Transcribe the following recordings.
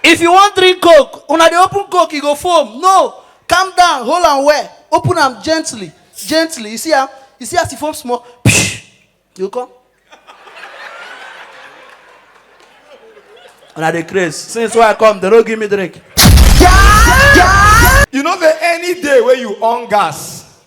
If you wan drink coke, una dey open coke e go foam, no, calm down, hold am well, open am gently, gently, you see am, you see as e foam small, pshhh, e go come. Una dey craze, since wey I come dem no give me drink. You no get any day wey you on gas.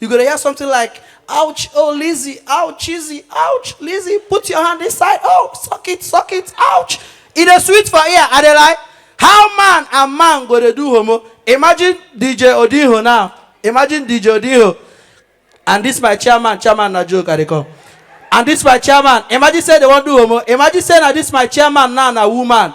You go to hear something like, ouch, oh Lizzie, ouch, Lizzie, ouch, Lizzie, put your hand inside, oh, suck it, suck it, ouch. It is sweet for ear, and they like, how man and man go to do homo? Imagine DJ Odiho now. Imagine DJ Odiho. And this my chairman, chairman na joke, I come. And this my chairman, imagine say they won't do homo. Imagine say na this my chairman now na woman.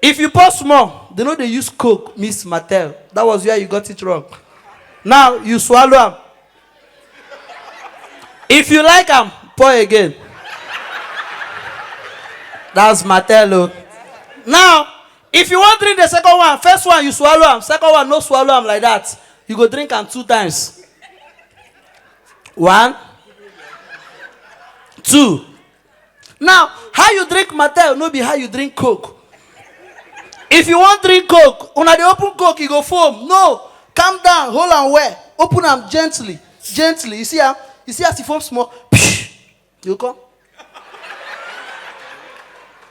If you pause small, they no dey use coke mix martel, that was where you got it wrong. Now you swallow am. If you like am, pour again. That's martel o. Now, if you wan drink the second one, first one you swallow am, second one no swallow am like that, you go drink am two times. One, two. Now, how you drink Mattel no be how you drink Coke. If you wan drink Coke, una dey open Coke, e go foam. No, calm down, hold am well, open am gently, gently. You see am? You see as e foam small? You go come.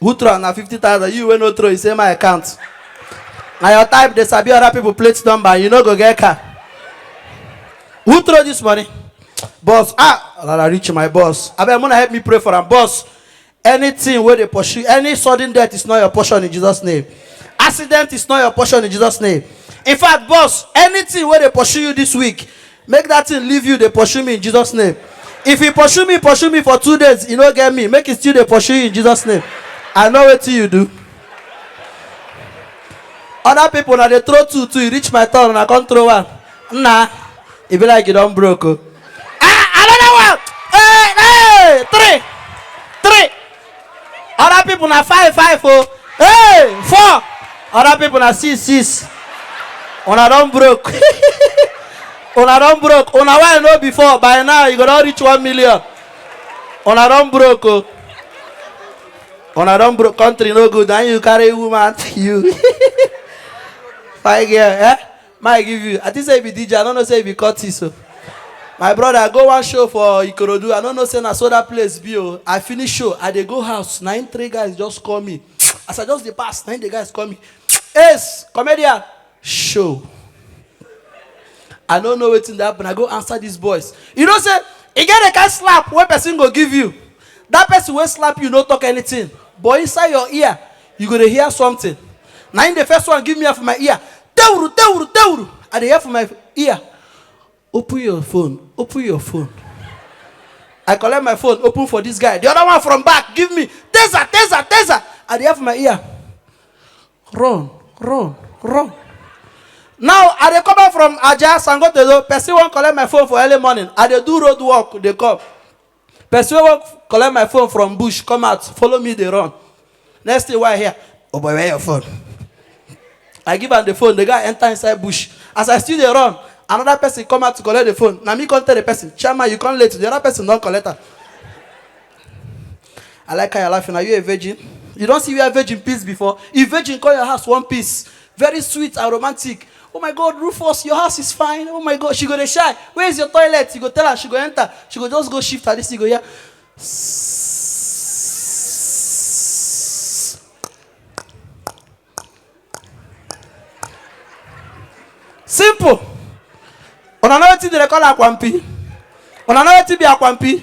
who throw am na fifty thousand you wey no throw you say my account na your type dey sabi other people plate number and you no go get car who throw this money boss ah rara reach my boss abeg muna help me pray for am boss anything wey dey pursue any sudden death is not your portion in jesus name accident is not your portion in jesus name in fact boss anything wey dey pursue you this week Make dat thing leave you dey pursue me in Jesus name. If e pursue me pursue me for two days e no get me make e still dey pursue you in Jesus name. I know wetin you do. Other people una dey throw two two e reach my turn una come throw one. Nna e be like you don broke o. Ah another one! Hey hey three three. other people na five five o hey four other people na six six una don broke una don broke una wey i know before by now you go don reach one million una don broke o una don broke country no good and you carry woman you fine girl eh May I give you? I think say you be DJ. I don't know say you be Curtis. So. My brother, I go one show for Ikorodu. I don't know say na so that place be. Oh. I finish show. I dey go house. Na him three guys just call me. As I just dey pass, na him the guys call me. Ace, comedian, show. I don't know wetin dey happen. I go answer these boys. You know say e get the kind slap wey person go give you. That person wey slap you no talk anything. But inside your ear, you go dey hear something na im the first one give me am for my ear tewuru tewuru tewuru i dey hear for my ear open your phone open your phone i collect my phone open for this guy the other one from back give me taser taser taser i dey hear for my ear run run run now i dey come back from aja sangotedo person wan collect my phone for early morning i dey do road work dey come Person wey wan collect my phone from bush come out follow me dey run next thing wey I hear oh boy where your phone I give am the phone the guy enter inside bush as I still dey run another person come out to collect the phone na me come tell the person chairman you come late the other person don collect am I like how you are laughing are you a virgin you don see where virgin piss before if virgin come your house one piss very sweet and romantic Oh my God, Rufus, your house is fine. Oh my God, she go dey shy. Where is your toilet? You go tell her, she go enter. She go just go shift her this, you go hear. Simple. Una know wetin dem dey call akwampi? Una know wetin be akwampi?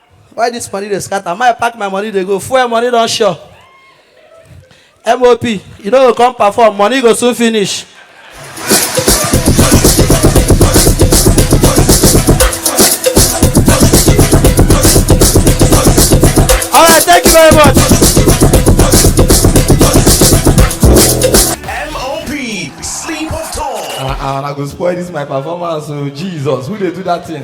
why this money dey scatter my pack my money dey go fuel money don sure mop you no go come perform money go soon finish. all right thank you very much. MOP, sleep of tongue. and and i go spoil dis my performance o jesus who dey do dat thing.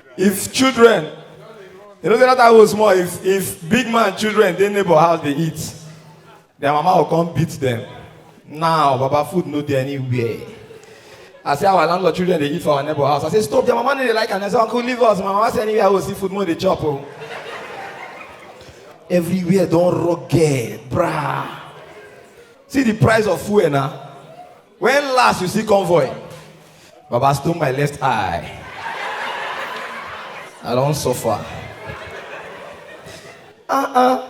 if children you know say that time was small if if big man children dey neighbor house dey eat their mama go come beat them now baba food no dey anywhere i say our landlord children dey eat for our neighbor house i say stop their mama no dey like am i say uncle leave us my mama say anywhere i go see food mo dey chop o everywhere don rugged brah see the price of fuel na When last you see convoy? Baba stone my left eye. I don suffer. Uh-uh.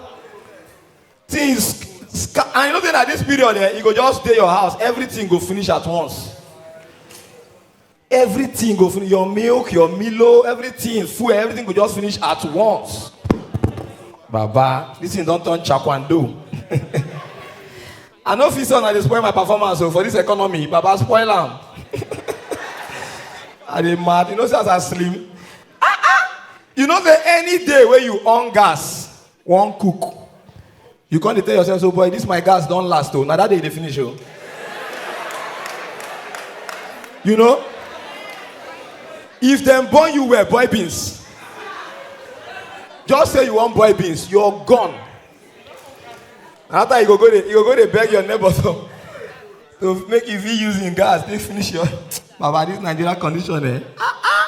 Things sca- and you know say na this period eh, you go just dey your house, everything go finish at once. everything go finish your milk your milo everything fuel everything go just finish at once baba this thing don turn chakwando i no fit say una dey spoil my performance o oh, for this economy baba spoil am i dey mad you know say as i slim ah ah you know say any day wey you on gas wan cook you come dey tell yourself so boy this my gas don last o na that day e dey finish o you know if dem born you well boy beans just say you wan boy beans you're gone na after you go go dey you go go dey beg your neighbor to to make you fit use him gas take finish your baba this nigeria condition eh ah ah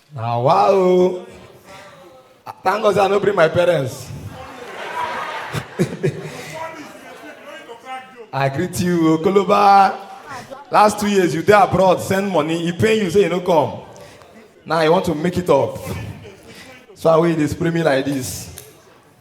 Na wa o. Thank God say I no bring my parents. I greet you, Okoloba. Last two years you dey abroad, send money, e pain you say you no come. Now you want to make it up. So I wey you dey spray me like this.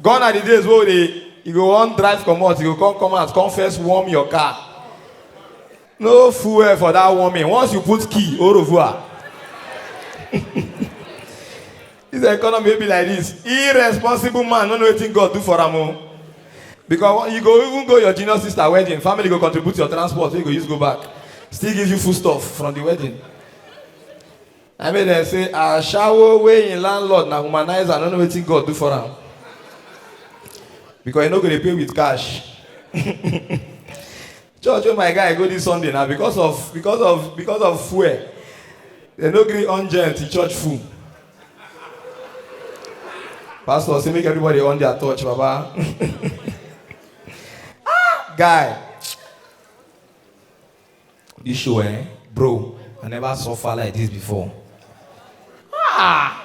gone are the days wey we dey you go wan drive comot you go come come out come first warm your car no fuel for that warming once you put key au revoir this economy wey be like this irresponsible man no know wetin god do for am o because you go even go your junior sister wedding family go contribute your transport wey you go use go back still give you food stuff from the wedding Na make dem say ashawo wey him landlord na womanizer no know wetin God do for am because he no go dey pay with cash. Church wey my guy go this Sunday na because of because of because of fuel dem no gree on gen till church full. Pastor say make everybody on their torch baba. Ah guy. This show, eh? Bro, I never suffer like this before. Ah!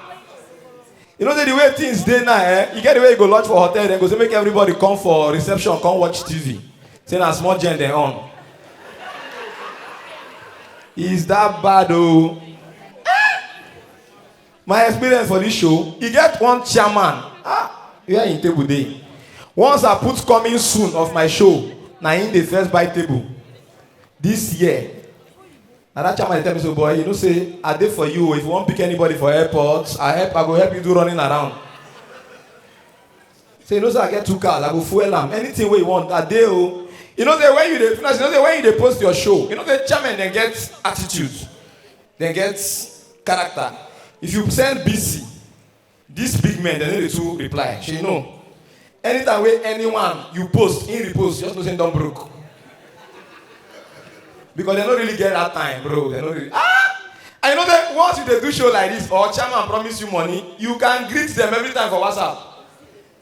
You know the way things dey now, eh? You get the way you go lodge for hotel, then go say make everybody come for reception, come watch TV. Say na small gen dem on. Is that bad oh? my experience for this show e get one chairman ah where him table dey once i put coming soon of my show na him dey first buy table this year na that chairman dey tell me so boy you know say i dey for you o if you wan pick anybody for airport i help i go help you do running around say you know say i get two cars i go fuel am anything wey you want i dey o you know say when you dey finish you know say when you dey post your show you know say chairman dem get attitude dem get character if you send busy dis big men dem no dey too reply shey you know anytime wey anyone you post him repost just know say him don broke because dem no really get that time bro dem no really ah i know say once you dey do show like this or chairman promise you money you can greet them every time for whatsapp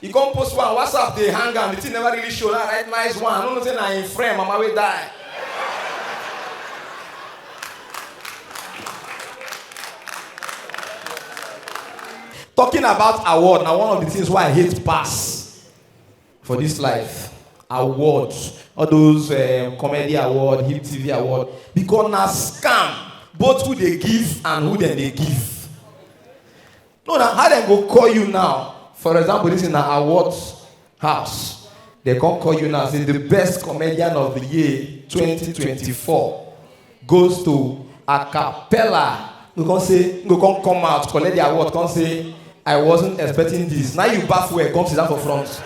He come post one WhatsApp dey hang am, the thing never really show. Now write nice one. I no know say na him friend mama wey die. Talking about award na one of the things wey I hate pass for this life. Award, all those um, comedy award, hip TV award, because na scam both who dey give and who dem dey give. no na how dem go call you now for example this is na award house dem come call you now say the best comedian of the year 2024 goes to acapella you come say you go come come out collect the award come say i wasn't expecting this now you baff well come sit down for front.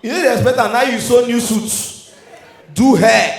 you no dey expect am now you sew new suit do hair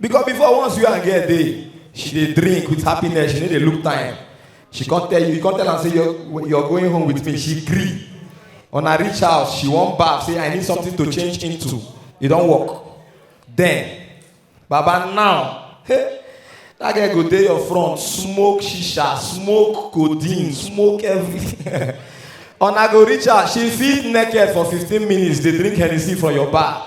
because before once you and girl dey she dey drink with happiness she no dey look time she come tell you you come tell am say you're, you're going home with me she gree una reach house she wan baff say i need something to change into e don work then baba now hey, that girl go dey your front smoke shisha smoke codeine smoke everything una go reach house she fit naked for fifteen minutes dey drink hennessy for your bar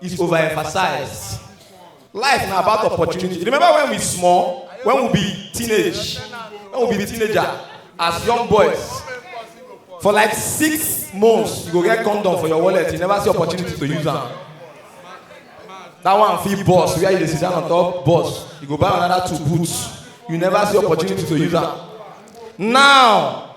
is overemphasized. Life na about opportunity. Remember when we small, when we be teenage, when we be teenager, as young boys, for like six months, you go get condom for your wallet. You never see opportunity to use them. That one fee boss, where you dey sit down on top boss, you go buy another two boots. You never see opportunity to use them. Now,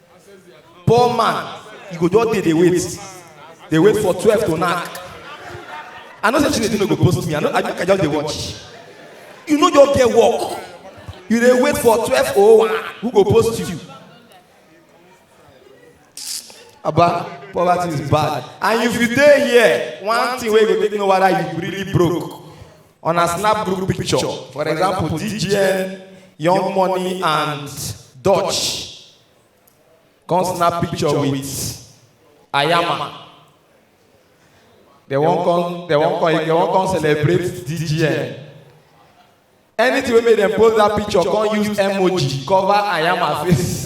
poor man you go just dey dey wait dey wait for twelve to knack i know say chinedu no go post me i know i make i just dey watch you no just get work you dey wait for twelve oh one who go post you aba poverty is bad and if you dey here one thing wey go take know whether you really broke on a snap group picture for example dgn young money and dutch come snap picture with ayama they wan come they wan come they wan come celebrate dgn anything wey make dem post that picture come use emoji cover ayama face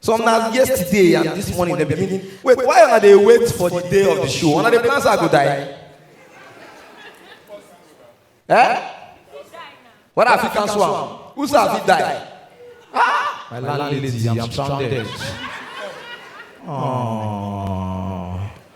Some na yesterday and this morning they begin. Wait, why are they wait for the day of the show? Una dey plan say I go die. Eh? Whether I fit cancel am? Who say I fit die? Ah! My landlady, I'm stranded. Aww.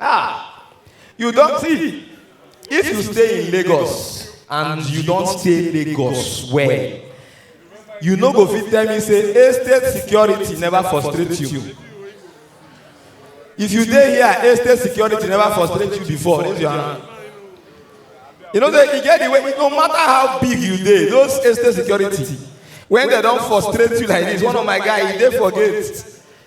Ah, you don't see. If you stay in Lagos and you don't stay Lagos well, you no go fit tell me say estate security never frustrate you. If you dey here, estate security never frustrate you before. Raise your hand. You know say e get the way no matter how big you dey, those estate security when they don frustrate you like this, one of my guy e dey for gate.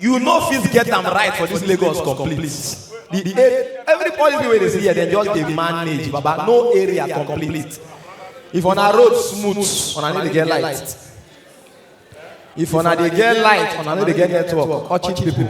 You no fit get am right for this Lagos complete. The, the, eh, every policy wey dey see here, dem just dey manage, baba, no area complete. If on a road smooth, on a need to get light. If on a dey get light, on a need to get network, or cheat people.